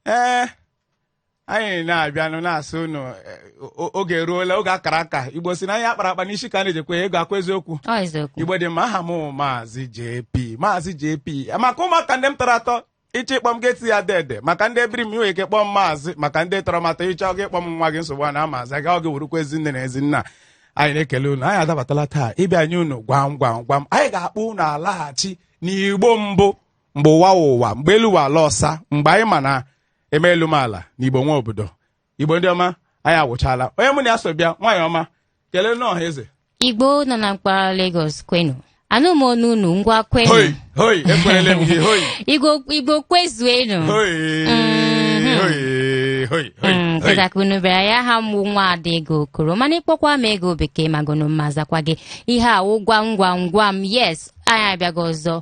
ee eh, anyị na-abịanụ na-asị unu eh, oge eruola oge akara aka igbo si na ihe akpara akpa n'isi ka a na-eji ekwe ya ọ kwa eziokwu igbo ndị ọma aha m maazị JP maazị JP maka ụmụaka ndị m tọrọ atọ ịchọ ịkpọ m gị ti ya dede maka ndị ebiri m inwe ike kpọọ m maazị maka ndị tọrọ m atọ ịchọ gị ịkpọ m nwa gị nsogbu a na maazị aga ọ gị wụrụkwa ezi nne na ezi nna anyị na-ekele unu anyị adabatala taa ịbịa nye unu gwam gwam gwam anyị ga-akpọ unu alaghachi n'igbo mbụ mgbe ụwa wụ ụwa mgbe elu wụ ala ọsa mgbe anyị ma na eme elu mee ala na igbo nwe obodo igbo ndị ọma anyị awụchala onye mụ na ya so bịa nwaanyị ọma kelee nụ ọha na eze igbo nọ na mpaghara Lagos kwenu anụ m ọnụ unu ngwa kwenu hoi hoi ekwerele m gị hoi igbo igbo kwezuenu hoi hoi hoi hoi Mm, hoi kịta ka unu bịara ya aha m bụ nwa ada ego okoro mana ịkpọkwa m ego bekee mago na m ma zakwa gị ihe a wụ gwam gwam gwam yes anyị abịago ọzọ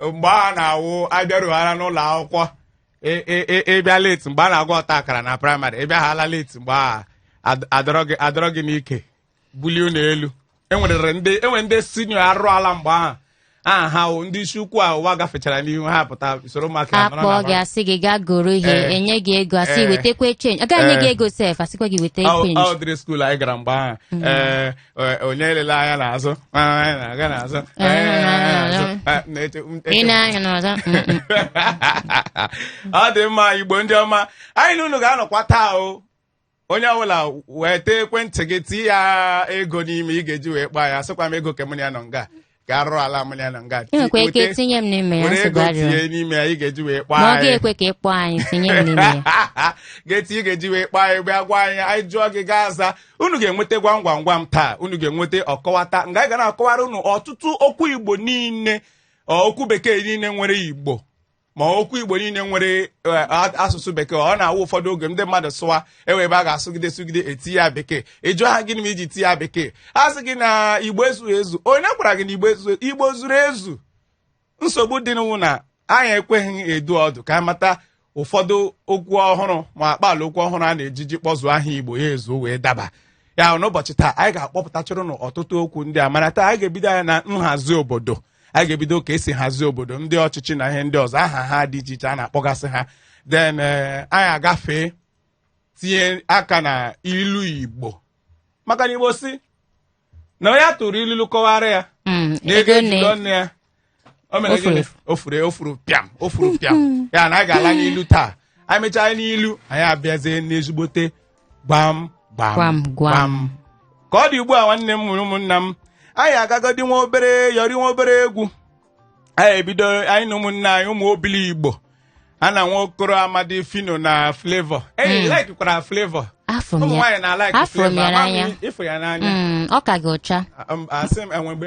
mgbe a na-awụ abịaruhala n'ụlọ akwụkwọ ị- ị- ị- ịbịa leti mgbe a na-agụ ọta akara na praịmarị ịbịahala leti mgbe a ad- adọrọ gị- adọrọ gị n'ike bulie unu elu enwerere ndị enwere ndị sinio arụ ala mgbe ahụ aha ha wụ ndị isi ukwu a ụwa gafechara n'ihu ha pụta soro ụmụaka ya nọrọ na akpọ gị mara. asị gị gaa goro ihe Eh. enye gị ego asị Eh. wetekwe chenji agaghị enye gị Eh. ego sef asịkwa gị weta Ọ- chenji ọ dịrị skuul anyị gara mgbe ahụ ee eh, onye elela anya n'azụ anyị na-aga n'azụ anyị na-aga n'azụ eh, na-eche- m- ị na-anya n'ọzọ mm, mm. ọ dị mma igbo ndị ọma anyị na unu ga-anọkwa taa o onye ọbụla weta ekwentị gị tie ya ego n'ime ị ga-eji wee kpọọ anyị sịkwa m ego ke mụ na ya nọ nga gaa rụọ ala mụrụ ya na nga ị nwekwa ike weta- tinye m n'ime ya were nsogbu ego adịrọ tinye n'ime ya ị ga-eji wee kpaa ma ọ anyị ga-ekwe ka ị kpọọ anyị tinye m n'ime ya ga-eti ị ga-eji wee kpọọ anyị bịa gwa anyị anyị jụọ gị gị aza unu ga-enweta gwam gwam gwam taa unu ga-enweta ọkọwata nga anyị ga na-akọwara unu ọtụtụ okwu igbo niile ọ, okwu bekee niile nwere igbo ma okwu igbo niile nwere eh, a- asụsụ bekee ọ na-awụ ụfọdụ oge ndị mmadụ sụwa igbo ha ga-asụgide sụgide eti ya bekee ịjụ ha gịnị mere iji ti ya bekee a sị gị na igbo ezughị ezu onye gwara gị na igbo ezu igbo zuru ezu nsogbu dịnụ wụ na anyị ekweghị edu ọdụ ka anyị mata ụfọdụ okwu ọhụrụ ma akpaala okwu ọhụrụ a na-ejiji kpọzuo aha igbo ya ezuo wee daba ya n'ụbọchị taa anyị ga-akpọpụtachara unu ọtụtụ okwu ndị a mana taa anyị ga-ebido ya na nhazi obodo anyị ga-ebido ka esi hazie obodo ndị ọchịchị na ihe ndị ọzọ aha ha dị iche iche a na-akpọgasị ha then eh, anyị agafee tinye aka na ilu igbo maka na igbo si na onye a tụrụ ilulu kọwara ya Mm, na ego ego nne. eji lụọ nne ya o mere O furu gịnị efu. o furu o furu pịam o furu pịam ya na anyị ga-ala n'ilu taa anyị mechaa n'ilu anyị abịazie n'ezigbote gwam gwam Gwam, gwam. ka ọ dị ugbu a nwanne m nwere ụmụnna m anyị agagodi nwa obere yọrị nwa obere egwu anyị ebido anyị na ụmụnna anyị ụmụ Obiligbo a na nwa okoro amadi Phyno na Flavour eyi Mm. laikikwara Flavour afụ ụmụ m ya nwaanyị na-alaiki afụ m Flavour ya amaghị n'anya ịfụ ya n'anya Mm, ọ ka gị ụcha Um, asị m enwe mgbe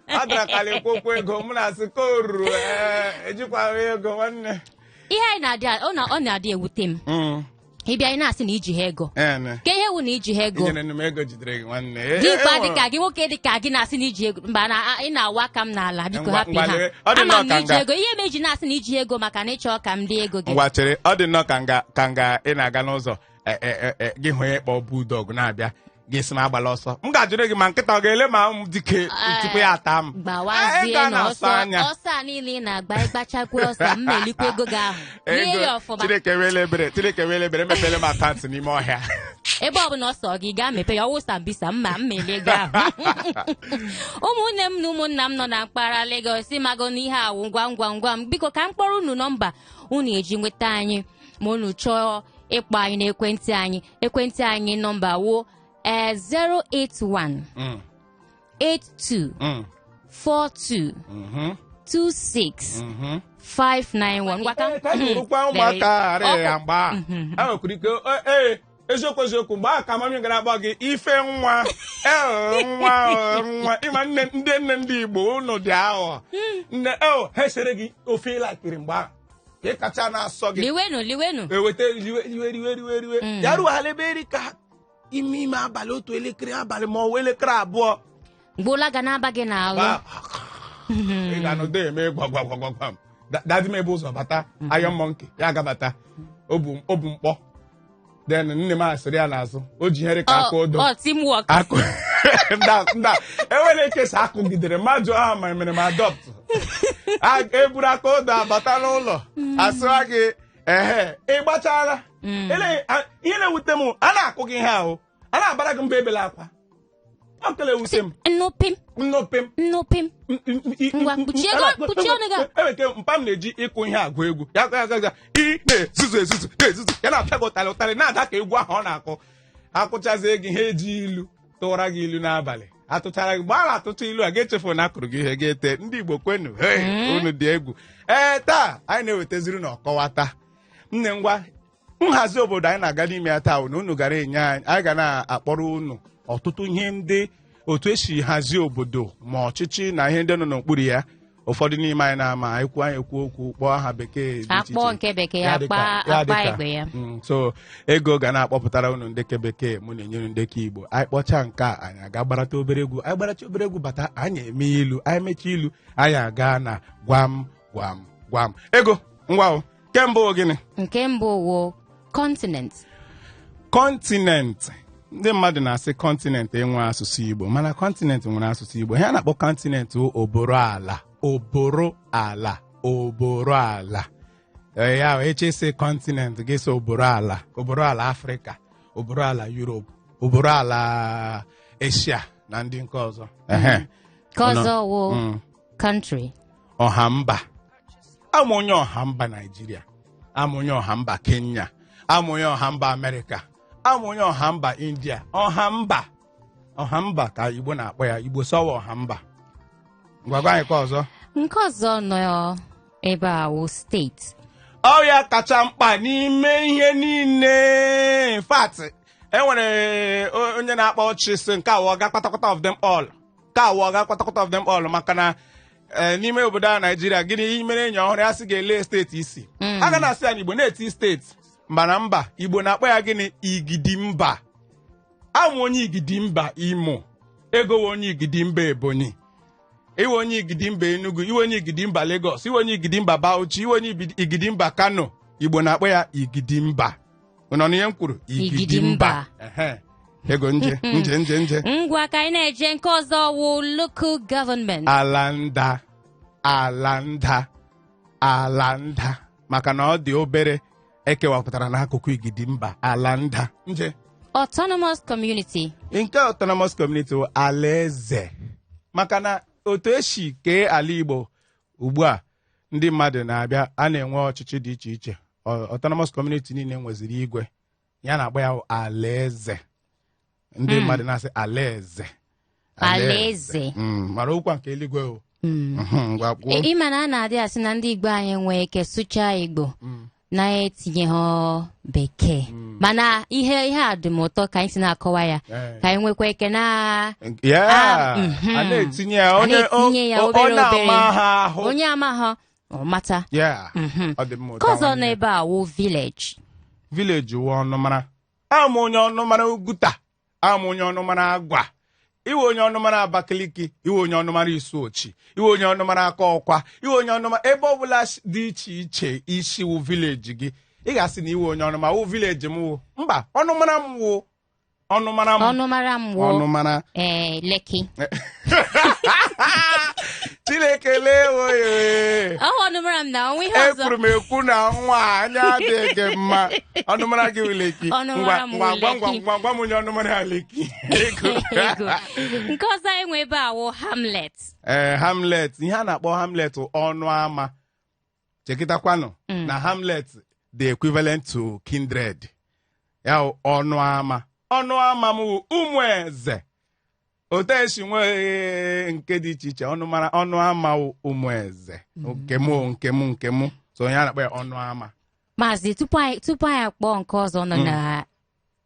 a dara karị ekwu okwu ego m na-asị ka o ruru ee ejikwaghị ego nwanne ihe anyị na-adị ọ na- ọ na-adị ewute m Mm, ịbịa anyị na-asị na iji ha ego ee, ne. ka ihe wụ na iji ha ego inyere nụ m ego jidere gị nwanne E- e- dimkpa enwere- dịka gị nwoke dịka gị na-asị na iji ego mba na a- ị na-awa aka m n'ala biko Ngwa- hapụ ngwa ha lee, ọ dị ama nnọọ m na ka iji nga. ego ihe m eji na-asị na iji ego maka na ịchọ ka m dị ego gị ngwa chere ọ dị nnọọ ka nga ka nga ị na-aga n'ụzọ e- e- e- e, gị hụ onye kpọ bulldog na-abịa ga-esi m agbala ọsọ m ga-ajụrụ gị ma nkịta ọ ga-ele ma m dike tupu ya ata m Eh, ị gbawazie ga na na-asụ ọsọ anya. ọsọ a niile ị na-agba ịgbachakwa ọsọ m elikwa ego gị ahụ rie ya ego ọfụma chineke wele ebere chineke wele ebere mepere m akaụntụ n'ime ọhịa ebe ọbụla ọ sọ gị gaa mepe ya ọ wụ sambisa ma m elie ego ahụ ụmụnne m na ụmụnna m nọ na mpaghara Lagos ịmago n'ihe a wụ gwam gwam gwam biko ka m kpọrọ unu nọmba unu eji nweta anyị ma unu chọọ ịkpọ anyị n'ekwentị anyị ekwentị anyị nọmba wụ ee 081 Mm, 82 mm, 42 mhm, 26 mhm. 591 ngwa ka Ee, ka anyị hụrụkwa ụmụaka ghara Ọkụ. ya mgbe a a nwekwara ike "Ee, ee eziokwu eziokwu mgbe a ka mami gara agba gị ife nwa ee nwa ee, nwa ịma nne ndị nne ndị igbo unu dị aghọ nne eo ha esiere gị ofe ị laikiri mgbe ahụ ka ị kacha na-asọ gị liwenu liwenu eweta riwe riwe riwe riwe riwe Mm. ya ruhala ebe rị ka ime ime abalị otu elekere abalị ma ọ wụ elekere abụọ gboola ga na-aba gị n'ahụ Ba- ị ga-anọdụ eme gwagwagwagwagwam dadi mepe ụzọ bata Iron Monkey ya agabata o bu o bu mkpọ then nne m esiri ya n'azụ o ji ihe rị ka aka odo ọ teamwork akụ nda nda enwere ka esi akụgidere m ajụọ ha ma mere m adopt A- eburu aka odo abata n'ụlọ asịwa gị ehe ị gbachara Ele- a- ihe na-ewute m a na-akụ gị ihe ahụ a na-abara gị mba ebela akwa ọ kala ewute m nọ pim nọ pim nọ pim m- m- m- i- Ngwa, m- m- kpuchie ego- m- kpuchie ọnụ gị a. enwere ike mpa m na-eji ịkụ ihe agụ egwu ya ga- ga- ga- ị na-ezuzu ezuzu na-ezuzu ya na-apịa gị ụtarị ụtarị na-ada ka egwu ahụ ọ na-akụ akụchazie gị ha eji ilu tụwara gị ilu n'abalị atụchara gị mgbe a na-atụcha ilu a ga-echefu na akụrụ gị ihe ga-ete ndị igbo kwenu hey, unu dị egwu ee taa anyị na-ewetaziri unu ọkọwata nne ngwa nhazi obodo anyị na-aga n'ime ya taa na unu gara enye anyị anyị ga na-akpọrọ unu ọtụtụ ihe ndị otu esi hazie obodo ma ọchịchị na ihe ndị nọ n'okpuru ya ụfọdụ n'ime anyị na-ama anyị kwuo anyị kwuo okwu kpọọ aha bekee dị iche akpọ iche. nke bekee Ya dịka- akpa ya akpa dịka. igbo ya Mm, so ego ga na-akpọpụtara unu ndị nke bekee mụ na-enye unu ndị nke igbo anyị kpọchaa nke a anyị aga gbarata obere egwu anyị gbaracha obere egwu bata anyị eme ilu anyị mechaa ilu anyị aga na gwam gwam gwam ego ngwa o nke mbụ wụ gịnị nke mbụ wụ kọntinent kọntinent ndị mmadụ na-asị kọntinent enwe asụsụ igbo mana kọntinent nwere asụsụ igbo ihe a na-akpọ kọntinent wụ oboro ala oboro ala oboro ala Ee, ya wụ ị chọọ ịsị kọntinent gị sị oboro ala oboro ala afrịka oboro ala yurop oboro ala eshia na ndị nke ọzọ Ehe. nke ọzọ wụ Mm. country, ọha mba awụ m onye ọha mba naijiria awụ m onye ọha mba kenya awụ m onye ọha mba amerịka awụ m onye ọha mba india ọha mba ọha mba ka igbo na-akpọ ya igbo sọwa ọha mba ngwa gwa anyị nke ọzọ nke ọzọ nọ ebe a wụ steeti ọ wụ ya kacha mkpa n'ime ihe niile in fact e nwere o- onye na-akpa ọchị sị nke a wụ ọga kpatakpata of them all nke a wụ ọga kwatakwata of them all maka na eh, n'ime obodo a naijiria gị mere enyi ọhụrụ ya sị gị olee steeti ị si a ga na-asị ya na igbo na-eti steeti mba na mba igbo na-akpọ ya gịnị igidi mba awụ m onye igidi mba imo ego wụ onye igidi mba ebonyi ị wụ onye igidi mba enugu ị wụ onye igidi mba lagos ị wụ onye igidi mba bauchi ị wụ onye Ibidi- igidi mba kano igbo na-akpọ ya igidi mba unu anụna ihe m kwuru Igidi mba. Ehe. ego nje nje nje nje ngwa ka anyị na-eje nke ọzọ wụ local government ala nta ala nta ala nta maka na ọ dị obere e kewapụtara n'akụkụ igidi mba ala nta nje autonomous community nke autonomous community bụ alaeze maka na otu e si kee ala igbo ugbu a ndị mmadụ na-abịa a na-enwe ọchịchị dị iche iche Ọ- autonomous community niile nweziri igwe ya a na-akpọ ya alaeze ndị Mm. mmadụ na-asị alaeze Alaeze. Mm, mara ọ wụkwa nke eluigwe o Mm. Mhm, ngwa kwuo. Ị ma na a na-adị asị na ndị Igbo anaghị enwe ike sụchaa Igbo Mm. na-etinyeghị bekee mana ihe ihe a dị m ụtọ ka anyị si na-akọwa ya ka anyị nwekwa ike na Yeah. Ah, mhm. a na-etinye ya a onye na-etinye ya o- o- obere onye obere ama ha ahụ onye amaghị ọ mata Yeah. Mhm. ọ dị mma nke ụta ọzọ nwanne. n'ebe a wụ village vileji wụ ọnụmara awụ m onye ọnụmara uguta ama onye ọnụmara agwa ị wụ onye ọnụmara abakaliki ị wụ onye ọnụmara isuochi ị wụ onye ọnụmara akọkwa ị wụ onye ọnụmara ebe ọbụla sh- dị iche iche i si wụ vileji gị ị ga-asị na ị wụ onye ọnụmara wụ vileji m wụ mba ọnụmara m wụ ọnụmara m ọnụmara m wụ ọnụmara ee leki chineke lewe ya ee. ọ wụ ọnụmara m na o nwe ihe ọzọ ekwuru m ekwu na nwa a, anya adịghị gị mma ọnụmara gị wụ leki Ọnụmara m ngwa ngwa ngwa wụ leki. ngwa gwa m onye ọnụmara ya leki Ego. nke ọzọ anyị nwe ebe a wụ hamlet ee hamlet ihe a na-akpọ hamlet bụ ọnụ ama chekịtakwanụ Mm. na hamlet dị equivalent to kindred ya wụ ọnụ ama ọnụ ama m wụ ụmụeze otu e si nwee nke dị iche iche ọnụmara ọnụ ama wụ ụmụeze nke mụ nke mụ nke mụ so onye a na-akpọ ya ọnụ ama maazị tupu anyị tupu anyị akpọọ nke ọzọ nọ na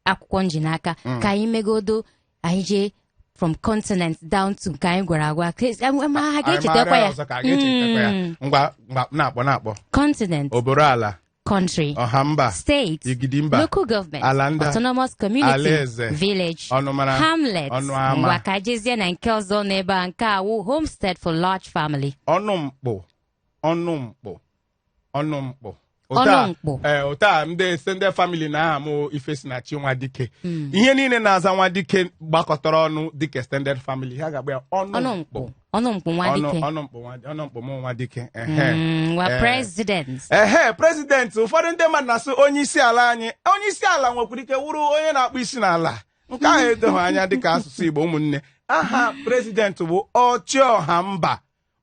akwụkwọ m ji n'aka ka anyị megodo anyị jee from continent down to nke anyị gwara agwa Ka esi- ama- ama ha Anyị ga-echetakwa maara ya ọzọ ka a ga-echetakwa ya. Mm. ngwa ngwa na-akpọ na-akpọ continent oboro ala country ọha mba state igidi mba local government ala nda autonomous community alaeze, village ọnụmara hamlet ọnụ ama. ngwa ka jezie na nke ọzọ n'ebe a nke a wụ homestead for large family ọnụ mkpụ ọnụ mkpụ ọnụ mkpụ ọnụ mkpụ ụta eh, ndị extended family na aha m ifesinachi nwadike hmm. ihe niile na-aza nwadike gbakọtara ọnụ dịka extended family ha ga-akpọ ya ọnụ mkpụ ọnụ mkpụ nwadike ọnụ mkpụ ọnụ mkpụ m nwa dike hmm, eh. president ehe president ụfọdụ ndị mmadụ na-asị onye isi ala anyị onye isi ala nwekwara ike wụrụ onye na-akpụ isi n'ala nke ahụ edoghị anya dịka asụsụ Igbo ụmụnne aha president bụ ọchịọha mba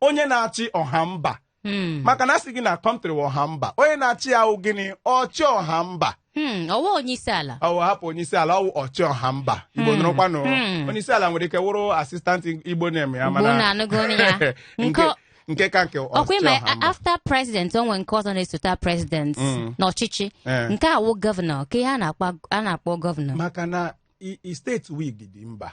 onye na-achị ọha mba Hmm. maka na a sị gị na kọntrị wụ ọha mba onye na-achị ya wụ gịnị ọchị ọha mba Hmm, ọ wụ onye isi ala ọ wụ hapụ onye isi ala ọ wụ ọchị ọha mba igbo Hmm. nụrụkwanụ Hmm. onye isi ala nwere ike wụrụ assistant igbo na-eme ya Igbo mana na-anụgo ọnụ ya. nke Nke- nke ka nke ọkwa ọchị ịma ọha mba after president o nwere nke ọzọ na-esote president Mm. n'ọchịchị Eh. nke a wụ gọvanọ kee ihe a na-akpọ- a na-akpọ gọvanọ maka na i- i steeti wụ igidi mba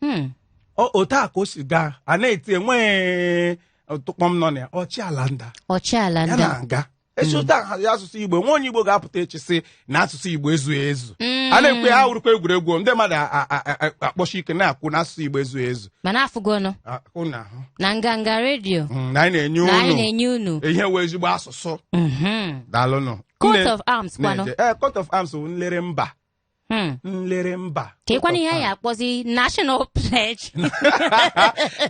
Hmm. O- otu a ka o si gaa a na-eti enweghị tụkpọm nọ na ya ọchị ala nda ọchị ala nda na anyị ga-esi otu ahụ hazie asụsụ igbo nwa onye igbo ga-apụta echi sị na asụsụ igbo ezughị ezu a na-ekwe ha wụrụkwa egwuregwu ndị mmadụ a- a- a- a- akpọshi ike na-ekwu na asụsụ igbo ezughị ezu mana afụgonụ Ah, unu ahụ na nganga redio Mm, na anyị na-enye na anyị unu na-enye unu ihe wụ ezigbo asụsụ Mhm. daalụnụ Coat Nne- of arms kwanụ na-eje- eh, coat of arms bụ nlere mba Hmm. nlere mba ka ịkwana ihe anyị akpọzi national pledge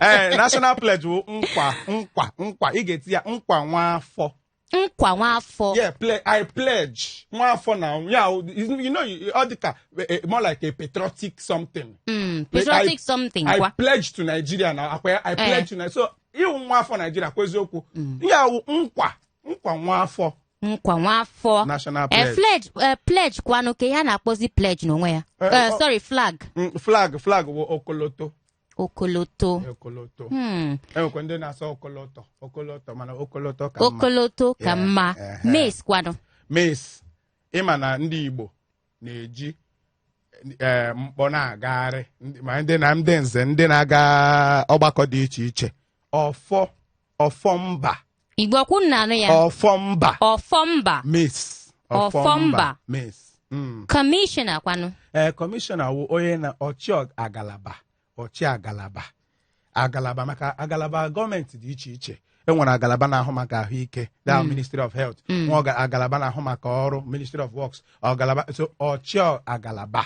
ee national pledge bụ nkwa nkwa nkwa ị ga-eti ya nkwa nwa afọ nkwa nwa afọ yeah ple i pledge nwa afọ na ya you know ọ dị ka eh, eh, more like a patriotic something Mm, patriotic something i kwa pledge to nigeria na akwa ya i pledge to nigeria so ị wụ nwa afọ nigeria kwa eziokwu ya wụ nkwa nkwa nwa afọ nkwa nwa afọ national Eh, pledge pledge eh, pledge kwanụ kee ihe a na-akpọzi pledge n'onwe ya Eh, Eh, ọ- sorry flag Mm, flag flag bụ okoloto okoloto okoloto Hmm, e nwekwa ndị na-asụ okoloto okoloto mana okoloto ka mma okoloto ka Yeah, mma eh, eh. mace kwanụ mace ị ma na ndị igbo na-eji ee mkpọ na-agagharị ndị- ma ndị na ndị nze ndị na-aga ọgbakọ dị iche iche ọfọ ọfọ mba igbo ọkwụ m na-anụ ya ọfọ mba ọfọ mba mace Ọfọ mba. mace Mm. kọmishọna kwanụ ee kọmishọna wụ onye na ọchị agalaba ọchị agalaba agalaba maka agalaba gọọmenti dị iche iche e nwere agalaba na-ahụ maka ahụike the ministry of health nwee aga- agalaba na-ahụ maka ọrụ ministry of works agalaba so ọchị agalaba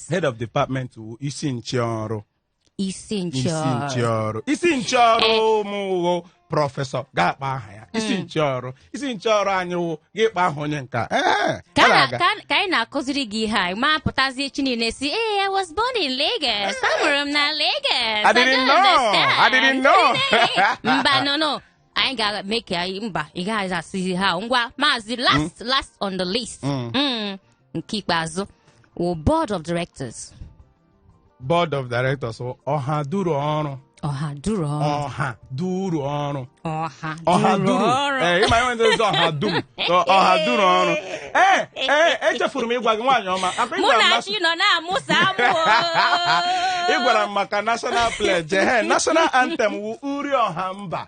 head of department wụ isi nche ọrụ isi isi nche nche ọrụ ọrụ isi nche ọrụ mụ wụ prọfesọ ga-akpọ aha ya isi nche ọrụ isi nche ọrụ anyị wụ ga-akpọ aha onye nka Ehe, ka ọ na- na-aga. ka- ka anyị na-akụziri gị ihe a ị ma pụtazie echi niile sị ee I was born in Lagos amụrụ m na Lagos I didn't don't know. understand." I didn't know. mba no no anyị ga-eme ka anyị mba ị gaghị asịzi ihe a ngwa maazị last last on the list Mm. Mm. nke ikpeazụ wụ board of directors board of directors wụ ọha duru ọrụ ọha duru ọrụ ọha duru ọrụ ọha ọha duru duru ọrụ ee ị ma ihe ndị ọzọ ọha dum ọ- ọha duru ọrụ ee ee echefuru m ịgwa gị nwaanyị ọma akwa mụ ị gwara m na na- chi nọ na-amụsa amụ ị gwara m maka national pledge ehe national anthem wụ uri ọha mba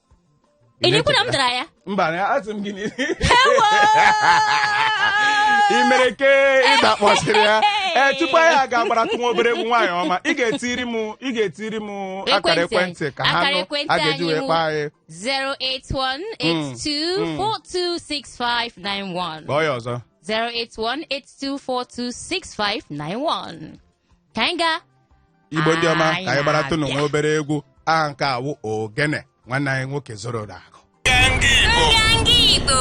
ị na-ekwu na m dara ya mba na asị m gị na Ewo! ị mere ke ị zakpọsịrị ya ee tupu anyị agaa gbaratụ nwa obere egwu nwaanyị ọma ị ga-etiri m ị ga-etiri m akara Ekwentị. ekwentị ka ha Akara nụ ekwentị a ga-eji anyị wee mụ. kpọọ anyị 08182426591 kpọọ ya ọzọ 08182426591 ka anyị gaa igbo ndị ọma Anyị ka anyị gbaratụnụ na-abịa. nwa obere egwu aha nke a wụ ogene nwanne anyị nwoke zoro na-akụ nganga igbo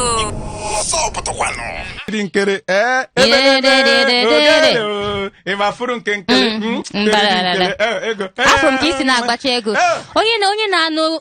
ndị nkere ee Yededededede. ogene o. ị ma fụrụ nke nkere Mm, mm, nkere, mbarara. nkere, eh, ego afọ m ka isi na-agbacha ego Eh. onye na onye na-anụ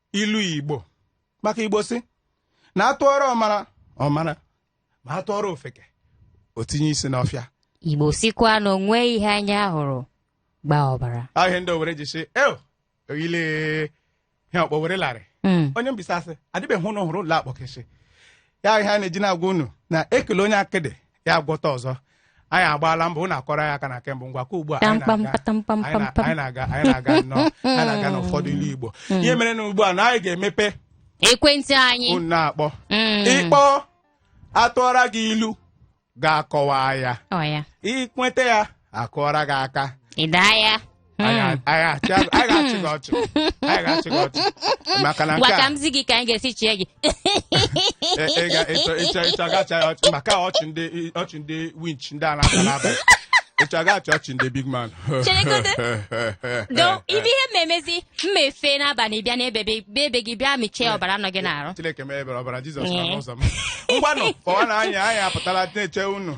ilu igbo maka igbo si na atụọrọ ọmara ọ mara ma atụọrọ ofeke o tinye isi n'ọfịa igbo sikwa na o nwe ihe anya hụrụ gbaa ọbara ahịa ndị owere ji sị eo oyile ihe ọkpọ were larị hmm. onye mbisa asị adịbeghị unu hụrụ ụlọ akpọkịsị ya ihe anyị ji na-agwa unu na ekele onye akịdị ya agwọta ọzọ anyị agbaala mbọ unu akụọrọ ya aka na kemgbe ngwa ka ugbu a anyị Tampam, na-aga- patampam, anyị na- pampam. anyị na-aga anyị na-aga nnọọ anyị na-aga n'ụfọdụ ilu igbo ihe mere na ugbu a na anyị ga-emepe ekwentị anyị unu na-akpọ Mm. ị kpọọ atụọra gị ilu gị akọwa ya ọ ya i kweta ya akụọra gị aka ị daa ya Anyị a- anyị achị azụ- anyị ga-achị gị ọchị anyị ga-achị gị ọchị maka na ngwa ka m zi gị ka anyị ga-esi chịa gị e- ị ga- ịchọ ịchọ ịchọ ka a chịa ọchị maka ọchị ndị ọchị ndị winch ndị a na-ata n'abalị ịchọ ka a chịa ọchị ndị big man Cheregodo. do ibe ihe mmemezi mma efe n'abalị bịa n'ebe be- be ebe gị bịa mịchaa ọbara nọ gị n'arụ chineke mee ebere ọbara jizọs nọ n'ụzọ m ngwanụ kpọwa na anyị anyị apụtala na-eche unu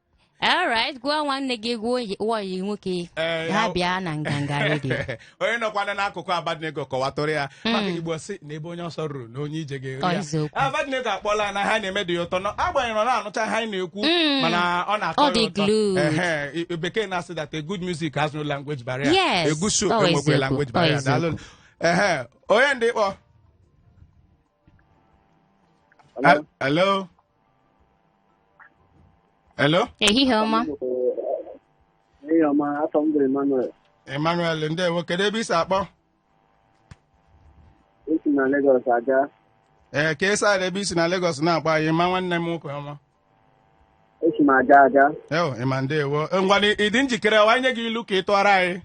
alright gwa nwanne gị gwa ọyị- gwa ọyị nwoke Ee, ya ya- bịa na nganga redio onye nọkwana n'akụkụ abednego kọwatụọrọ ya maka igbo si na ebe onye ọsọ ruru na onye ije Ọ, ga-eru eziokwu. ya abednego akpọọla na ihe a na-eme dị ya ụtọ na agbanyeghị na ọ naghị anụcha ihe anyị na-ekwu Mm. mana ọ na-atọ Ọ ya dị ụtọ glued. Ehe, i- bekee na-asị that a good music has no language barrier Yes, a good show ọ enweghịkwa eziokwu, language ọ barrier eziokwu. daalụ ehe onye na-akpọ Hello? hello Hello? ehihie ọma Ehihie ọma, afa m bụ Emmanuel. Emmanuel ndewo kedu ebe i si akpọ Esi m na Lagos Ajah. ee kee side ebe i si na Lagos na-akpọ anyị Emma nwanne m nwoke ọma Esi m Ajah Ajah. eo Emma ndewo ngwanụ ị dị njikere anyị nye gị ilu ka ị tụọrọ anyị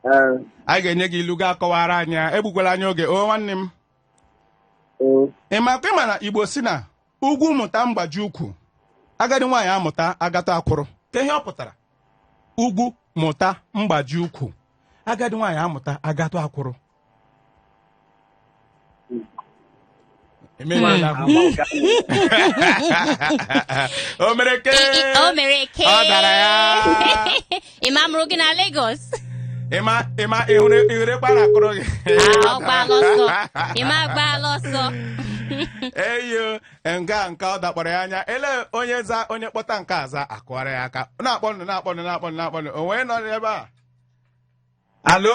Ee, anyị ga-enye gị ilu gị akọwara anyị ya egbukwala anyị oge o nwanne m Mm. Emma ka ị ma na igbo si na ugwu mụta mgbaji ukwu agadi nwaanyị amụta agata akwụrụ kee ihe ọ pụtara ugwu mụta mgbaji ukwu agadi nwaanyị amụta agata akwụrụ Emere ya ahụ. Ama ụka. o mere ke o mere ke Ọ dara ya. Emma a mụrụ gị na Lagos Emma Emma ị hụrụ ị hụrụ ekwe a na-akụrụ gị Ah, ọ gbaala ọsọ Emma agbaala ọsọ eyo nke a nke ọ dakpọrọ ya anya ele onye za onye kpọta nke a zaa akụọra ya aka na-akpọnụ na-akpọnụ na-akpọnụ na-akpọnụ onye nọ n'ebe a hello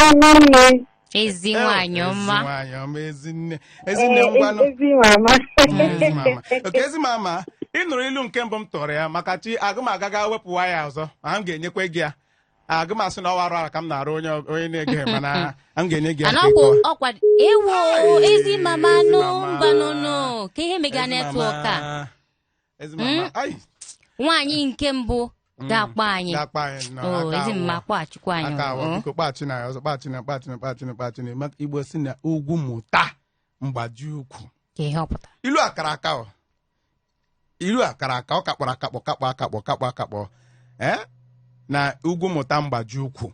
Ọma nne. ezi Eh, nwaanyị ezi ọma nwaanyị ọma ezinne ezinne Ee, ngwanụ ezi mama. Ezi mama. okay ezi mama ị nụrụ ilu nke mbụ m tụrụ ya maka chi agụmaga ga wepụwa ya ọzọ ma m ga-enyekwa gị ya agụ m asị na ọ wụ arụ ala ka m na-arụ onye onye na-ege mana m ga-enye gị ya ka ị anakwụ kọwa. ọkwa ewo Ai, ezi mama ezi nụ mama. mbanụnụ ka ihe mega Ezi network a mama. Ezi mma, ma- ai, nwaanyị nke mbụ ga-akpọ anyị ga-akpọ anyị na o aka ezi mma awọ. kpọghachikwa anyị aka awọ, o. biko kpọghachi na ya ọzọ kpọghachi na kpọghachi na kpọghachi na kpọghachi na maka Igbo sị na ugwu mụta mgbaji ukwu ka ihe ọ pụtara ilu a kara aka o ilu a kara aka ọ kakpọrọ akakpọ kakpọ akakpọ kakpọ akakpọ ee na ugwu mụta mgbaji ukwu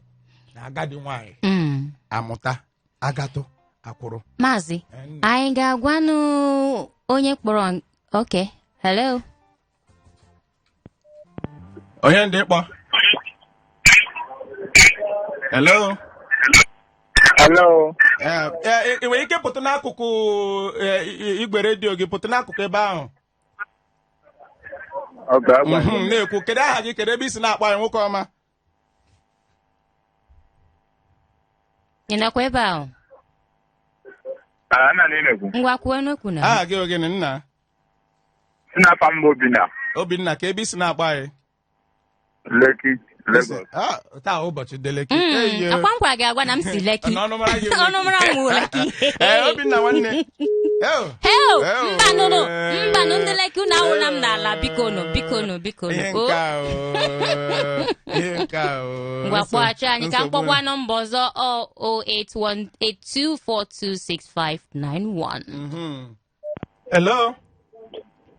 na agadi nwaanyị Mm. amụta agatụ akwụrụ maazị Em, anyị ga-agwanụ onye kpọrọ n- okay hello onye ndị kpọ hello Hello. Eh, eh, ị nwere ike pụta n'akụkụ eh, i- i- igwe redio gị pụta n'akụkụ ebe ahụ Okay, agwa Mhm, na-ekwu kedu aha gị kedu ebe i si na-akpọ anyị nwoke ọma ị nọkwa ebe ahụ Ala nna na imekwu. ngwa kwuonụ okwu na aha gị ọ gịnị nna Nna afa m bụ Obinna. Obinna ka ebe i si na-akpọ anyị Lekki, Lagos. Ah, taa ụbọchị ndị Lekki Mm, ọ kwa m gwara gị agwa na m si Lekki Ọnụ mara gị wuru. ọnụ mara m wuru Lekki Ee, Obinna nwanne Eo, heo mbanụnụ mbanụ ndị Lekki unu awụla m n'ala bikonu bikonu bikonu ihe o nke a o ihe nke a o ngwa kpọghachi anyị ka m Nsogbu- kpọkwa nọmba ọzọ ọ 08182426591 Mhm. Hello?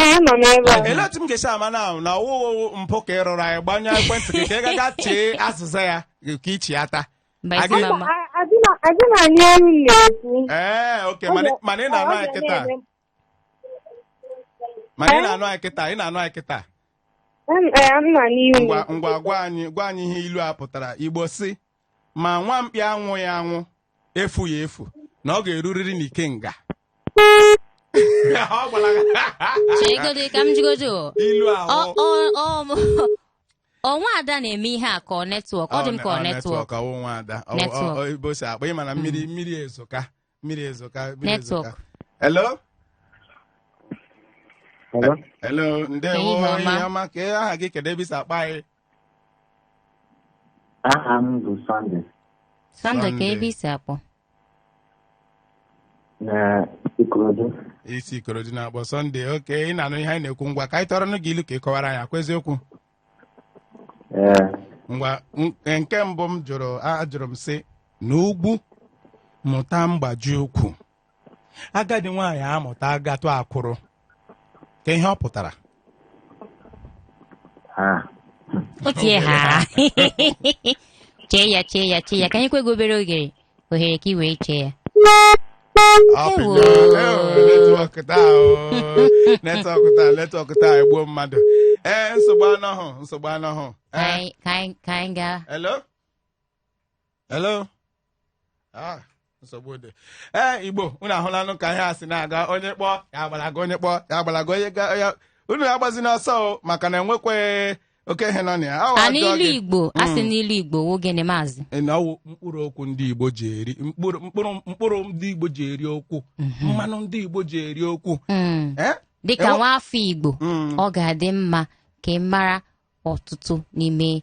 Ee, anọ m ebe a. Ele otu m ga-esi ama na na ọ wụhụ mpụ ka ị rụrụ anyị gbanyụọ ekwentị gị ka ị gaga chee azịza ya ka i cheta. Mba Aga- ezi mama. A- adịna- adịna anyị ọrụ m na-ekwu. Ee, oke Ọ mana ga- mana ị ọ na-anụ anyị ga kịta. na-eme- Mana ị na-anụ anyị kịta, ị na-anụ anyị kịta. Em- ee, m na n'ihu m. Ngwa ngwa gwa anyị gwa anyị ihe ilu a pụtara. Igbo sị ma nwa mkpi anwụghị anwụ efughị efu na ọ ga-erurịrị n'ikenga Ọ gwara gị- cheegodi ka m jigodo o. ilu Ọ- ahụ ọ- ọ- ọ nwa ada na-eme ihe a ka ọ network ọ dị m ka ọ network ọ wụ nwa ada Ọ- Network. ọ- ọ- ebe o si akpọ ị ma na mmiri mmiri ezoka mmiri ezoka mmiri Network. ezoka hello Hello? hello ndewo Ehihie ọma. ehihie ọma ka aha gị kedu ebe i si akpọ anyị Aha m bụ Sunday Sunday kee Sunday. ebe i si akpọ. na Ikorodu. i si Ikorodu na-akpọ Sunday okay ị na-anụ ihe anyị na-ekwu ngwa ka anyị tụọrọnụ gị ilu ka ị kọwara anyị ọ kwa eziokwu Ee, ngwa n- nke mbụ m jụrụ ajụrụ m sị na ugwu mụta mgbaji ukwu agadi nwaanyị amụta agatụ akwụrụ kee ihe ọ pụtara ha otie ha chee ya chee ya chee ya ka anyị nyekwa gị obere oge ohere ka ị wee chee ya Ọ Ewo. pịnyere, ewo, netwọk taa o. netwọk taa netwọk taa egbuo mmadụ ee nsogbu anọhụ nsogbu anọhụ Ka ee anyị- ka anyị- ka anyị gaa hello hello ah nsogbu dị ee igbo unu ahụlanụ ka ihe a si na-aga onye kpọọ ya agbalaga onye kpọọ ya agbalaga onye ga ya unu agbazina ọsọ o maka na enwekweghị oke ihe nọ na ya Awa a ajọ n'ilu gị. igbo a sị na ilu igbo wụ gịnị maazị Ị na ọ wụ mkpụrụ okwu ndị igbo ji eri mkpụrụ mkpụrụ mkpụrụ ndị igbo ji eri okwu mmanụ ndị igbo ji eri okwu Mm. Eh? dịka Enwe- nwa afọ igbo Mm. ọ ga-adị mma ka ị mara ọtụtụ n'ime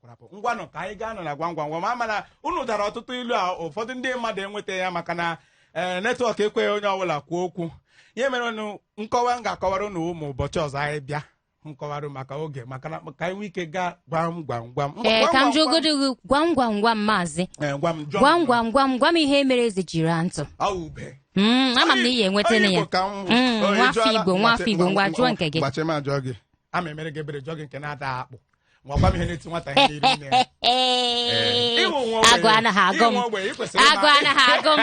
kwarapụ ngwanụ ka anyị gaanụ na gwam gwam gwam ama m na unu dara ọtụtụ ilu a ụfọdụ ndị mmadụ enweta ya maka na ee netwọk ekweghị onye ọbụla kwuo okwu ihe mere unu nkọwa m ga-akọwara unu ụmụ ụbọchị ọzọ anyị bịa m kọwara maka oge maka na ka anyị nwee ike gaa gwam gwam gwam Ngwa, ee gwam, ka m gwam, jụgodo gị gwam gwam gwam maazị gwam. Ee, gwam jụọ m. gwam gwam gwam gwam ihe mere eze jiri raa ntụ Ọ wụ ube. Mm, ama m na ị ya-enwetanụ Onye ya Igbo ka m bụ. Mm, Onye nwa afọ jụọla- Igbo, nwa afọ Igbo, ngwa jụọ nke gị. Gbachi m ajụọ gị. Ama m emere gị ebere jụọ gị nke na-ata akpụ ngwa gwa m ihe na-eti nwata ihe n'iru nne ya. Ee, Ị wụ nwa ogbenye- agụụ anaghị agụ m ị wụ ogbenye, ị kwesịrị agụụ ịma- anaghị agụ m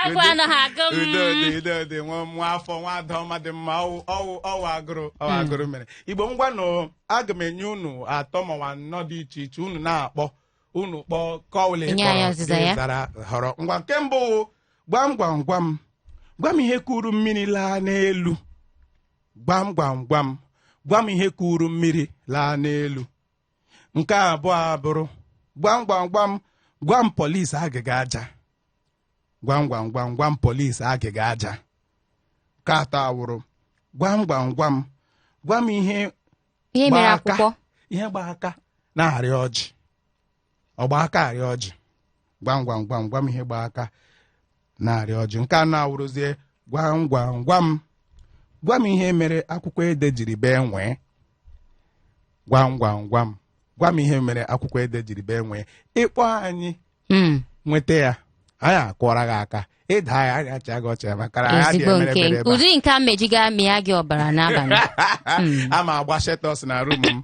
agụụ anaghị agụ m udo dị udo dị nwa nwa afọ nwa ada ọma dị mma ọ wụ ọ wụ ọ wụ agụrụ ọ wụ agụrụ mere igbo ngwanụ aga m enye unu atọ ma ọ wụ anọ dị iche iche unu na-akpọ unu kpọọ kọwụlị Nye anyị ọzịza ya. zara họrọ ngwa nke mbụ wụ, gwam gwam gwam gwam ihe kuru mmiri laa n'elu gwam gwam gwam gwam ihe kuru mmiri laa n'elu nke abụọ abụrụ gwam gwam gwam gwam polis agịga aja gwam gwam gwam gwam polis agịga aja nke atọ awụrụ gwam gwam gwam gwam ihe ihe mere Gbaa aka. akwụkwọ ihe gba aka na-arị ọjị ọ gba aka arị ọjị gwam gwam gwam gwam ihe gba aka na-arị ọjị nke anọ awụrụzie gwam gwam gwam gwa m ihe mere akwụkwọ ede jiri bee nwịị gwam gwam gwam gwa m ihe mere akwụkwọ ede jiri bee nwịị ị kpọọ anyị Mm. nweta ya anyị akụọra gị aka ị daa ya anyị achịa gị ọchị ya maka na anyị adịghị ezigbo emere nke ebere ebe a. ụdị nke a mejiga mịa gị ọbara n'abalị Mm. ama m agba Shelltox na room m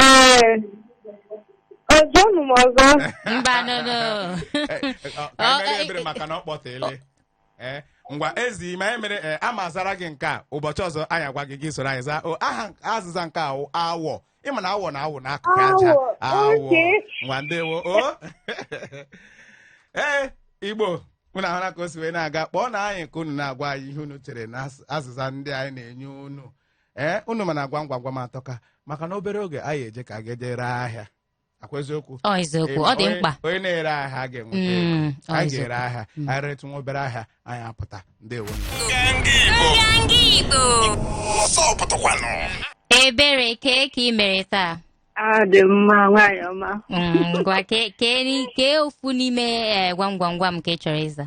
Ee, jụọnụ m ọzọ. mba no no ka anyị mere ebere maka na ọ kpọtele ee ngwa ezi ma anyị mere ee, ama azara gị nke a ụbọchị ọzọ anyị agwa gị gị soro anyị zaa o aha azịza nke a wụ awọ ị ma na awọ na-awụ n'akụkụ aja Awọ, awọ okay. ngwa ndewo o ee igbo unu ahụla ka o si wee na-aga kpọọnụ anyị ka unu na-agwa anyị ihe unu chere na as- azịza ndị anyị na-enye unu ee unu ma na gwam gwam gwam atọka maka na obere oge anyị eje ka a ga-eje ree ahịa akwa eziokwu ọ eziokwu ọ dị Onye- mkpa onye na-ere ahịa ga-enweta Mm, ego. ọ anyị eziokwu. ga-ere ahịa Mm. anyị retụ nwa obere ahịa anyị apụta ndewo Ebere kee ka ị mere taa adị m mma nwaanyị ọma Mm, ngwa kee kee ni- kee ofu n'ime eh, gwam gwam gwam ka ị chọrọ ịza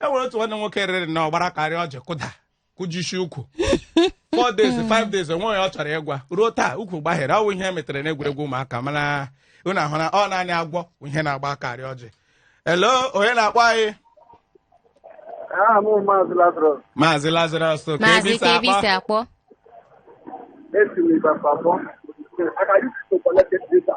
e nwere otu nwanne nwoke rịrị na ọ gbara aka rịa ọjị kụda kụjisie ụkwụ four days five days o nweghị onye ọ chọrọ ịgwa ruo taa ụkwụ gbaghere ọ wụ ihe o metere n'egwuregwu ụmụaka mana unu ahụ na ọ naanị agwọ bụ ihe na-agba aka arị ọjị hello onye na-akpọ anyị Aha m Maazị Lazarus maazị Lazarus ka maazị ebe i si ka ebe akpọ i si akpọ esi m Ibadan akpọ. Aka isi to collect data.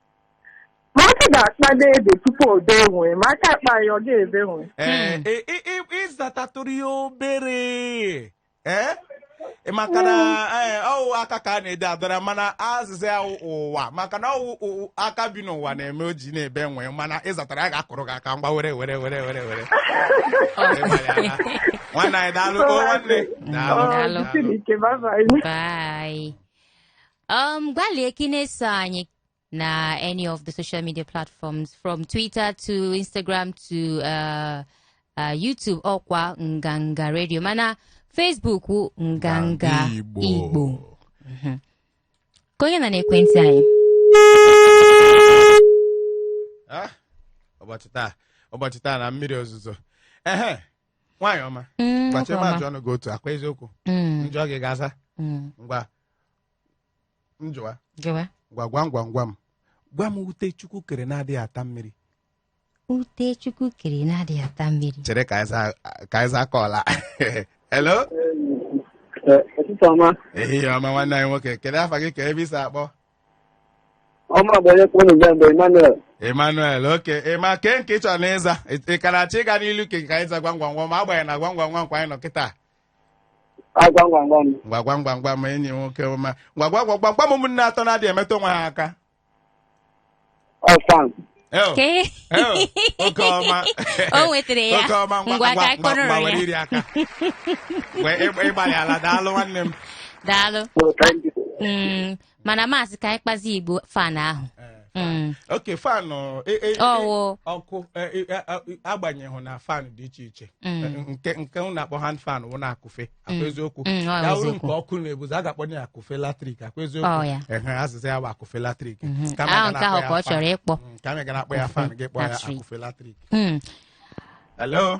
ma aka ga-akpa n'ede tupu o bee nwịị ma aka akpa ya ọ ga-ebe nwịị ee Hmm. ị- ị- ị- ị zatatụrụ ya obere ee Ị maka na ee, ọ wụ aka ka a na-ede adọra mana azịza ya wụ ụwa maka na ọ wụ ụ- aka bi n'ụwa na-eme o ji na-ebe nwịị mana ị zatara ya a ga-akụrụ gị aka ngwa were were were were were Ịgbalịala. nwanne anyị daalụ o nwanne Daalụ. Daalụ. Ọ, jisiri ike bye bye. Bye. Um, gbalịa ka ị na-eso anyị na any of the social media platforms from Twitter to Instagram to uh, uh, YouTube ọkwa Nganga Radio mana Facebook wụ Nganga Igbo. Igbo Mhm. ka onye nọ n'ekwentị anyị Ah, ụbọchị taa ụbọchị taa na mmiri ozuzo ehe nwaanyị ọma Mm, gbachi nwoke ebe ọma. a jụọnụ gị otu akwa eziokwu Mm, m jụọ gị ị ga-aza mm. ngwa m jụwa Jụwa. ngwa gwam gwam gwam gwa m ute Chukwu kere na-adịghị ata mmiri Ute Chukwu kere na-adịghị ata mmiri. chere ka anyị zaa- ka anyị zaa caller hello ọtụtụ ọma ehihie ọma nwanne anyị nwoke kedu afa gị ka ebe i si akpọ ọma bụ onye kpọnụ bịa mgbe Emmanuel Emmanuel okay Emma kee nke ị chọrọnụ ịza ị ka na-achọ ịga n'ilu ke ka anyị zaa gwam gwam gwam agbanyeghị na gwam gwam gwam kwa anyị nọ kịta gwam gwam gwam ngwa gwam gwam gwam enyi nwoke ọma ngwa gwam gwam gwam ụmụnne atọ na-adịghị emetụ onwe ha aka ọ fan Eo, Kee. eo, oke ọma o nwetara ya oke ọma ngwa ngwa ngwa ka ngwa ngwa kọrọ were ya iri aka Wee ị gba- ị gbalịala daalụ nwanne m daalụ Well, thank you. Mm, mana maazị ka anyị kpazi igbo fan ahụ Mm. okay fan e- e- e- Ọwụ. ọkụ e- e- a- a- agbanyeghị na fan dị iche iche Mm. nke nke a na-akpọ hand fan wụ na akụfe ọ kwa Mm. eziokwu Mm, ọ ya wụrụ eziokwu. nke ọkụ na-ebuzi a ga-akpọ ya akụfe latrik ọ kwa Ọ, eziokwu ya. ehe azịza ya bụ akụfe latrik Mhm. Kama Ahụ ga nke ahụ na-akpọ ka ya ọ chọrọ fan. ịkpọ. Mm, kama ị ga na-akpọ ya fan gị kpọọ ya Latrik. akụfe latrik Mm. hello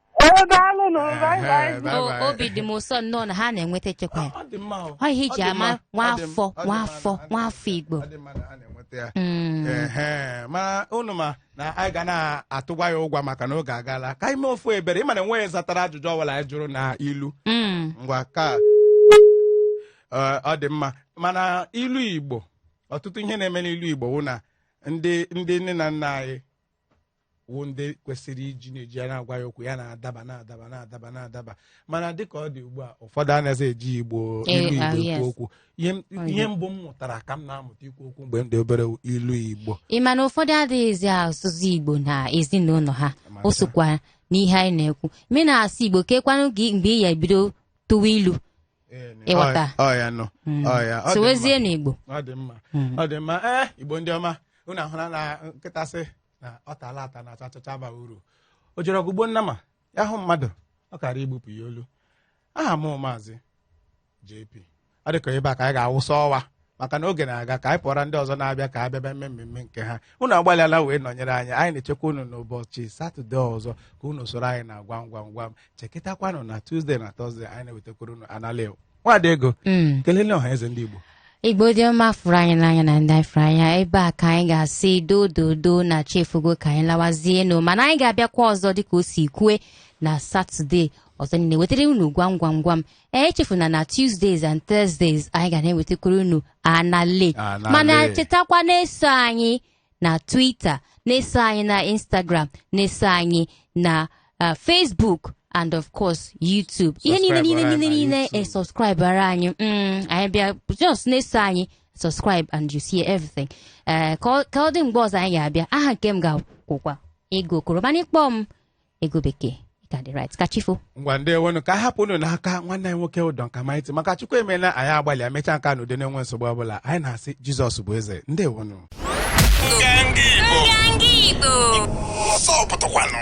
Ee, daalụ nụ. Bye Ehe, bye. bye O- bye. obi dị m ụsọ nnọọ na ha na-enweta e chekwa ya Ọ dị mma o. Ọ ihe Ọ e ji dị ama mma. nwa Ọ dị m- afọ, ọ dị nwa mma afọ, na- nwa afọ Igbo. Ọ dị mma na ha na-enweta ya. Mm. Ehe, ma unu ma na anyị ga na-atụgwa ya ụgwọ maka na oge agaala ka anyị mee ofu ebere ị ma na enweghị zatara ajụjụ ọbụla anyị jụrụ na ilu Mm. ngwa ka Ee, ọ dị mma mana ilu igbo ọtụtụ ihe na-eme n'ilu igbo wụ na ndị ndị nne na nna anyị wụ ndị kwesịrị iji na-eji ya na-agwa anyị okwu ya na-adaba na-adaba na-adaba na-adaba mana dịka ọ dị ugbu a ụfọdụ anaghị eji igbo Eh, ilu ah, igbo yes. ekwu okwu ihe m- Oh, ihe yeah. mbụ m mụtara ka m na-amụta ikwu okwu mgbe m dị obere wụ ilu igbo ị ma na ụfọdụ adịghịzi asụzi igbo na ezinụlọ ha o sokwa n'ihe anyị na-ekwu ma ị naghị asụ igbo kekwanụ gị mgbe ị ya-ebido tụwa ilu Ịghọta. Ọ- ọ ya nọ Mm. Ọ ya, ọ dị mma. sowezie n'igbo ọ dị mma ọ dị mma ee igbo ndị ọma unu ahụla na nkịta sị na ọ taala ata na achachacha abaghị uru o jere ọgụ gbuo nnama ya hụ mmadụ ọ kara igbupụ ya olu aha m maazị JP ọ dịka ebe a ka anyị ga-awụsa ọwa maka na oge na-aga ka anyị pụọra ndị ọzọ na-abịa ka ha bịa bịa mmemme nke ha unu agbalịala wee nọnyere anyị anyị na-echekwa unu n'ụbọchị satọde ọzọ ka unu soro anyị na gwam gwam gwam chekịtakwanụ na tuzdee na tọzdee anyị na-ewetakwara unu anale nwaada ego Mm. kelele ọha eze ndị igbo igbo ndị ọma fụrụ anyị n'anya na ndị anyị fụrụ n'anya ebe a ka anyị ga-asị dododo na chi efogo ka anyị lawazie nụ mana anyị ga-abịakwa ọzọ dịka o si kwue na satọde ọzọ niile wetara unu gwam gwam gwam ee echefuna na tuesdays and thursdays anyị ga na-ewetakwara unu anale Anale. mana chetakwa na-eso anyị na Twitter na-eso anyị na Instagram na-eso anyị na uh, Facebook and of course YouTube ihe niile niile Subscribe niile anyị niile na e YouTube. subscribe-ara anyị Mm, anyị bịa just na-eso anyị subscribe and you see everything Eh, ka ọ- ka ọ dị mgbe ọzọ anyị ga-abịa aha nke m ka wụkwa ego okoro mana ị kpọọ m ego bekee ị ka dị right ka chi fo ngwa ndewonụ ka anyị hapụ unu n'aka nwanne anyị nwoke ụdọ nka maịtị maka chukwu emeela anyị agbalịa mechaa nke a n'udo na-enweghị nsogbu ọbụla anyị na-asị jizọs bụ eze ndewonụ Nganga Igbo. Nganga Igbo. Ọsọ pụtakwanụ.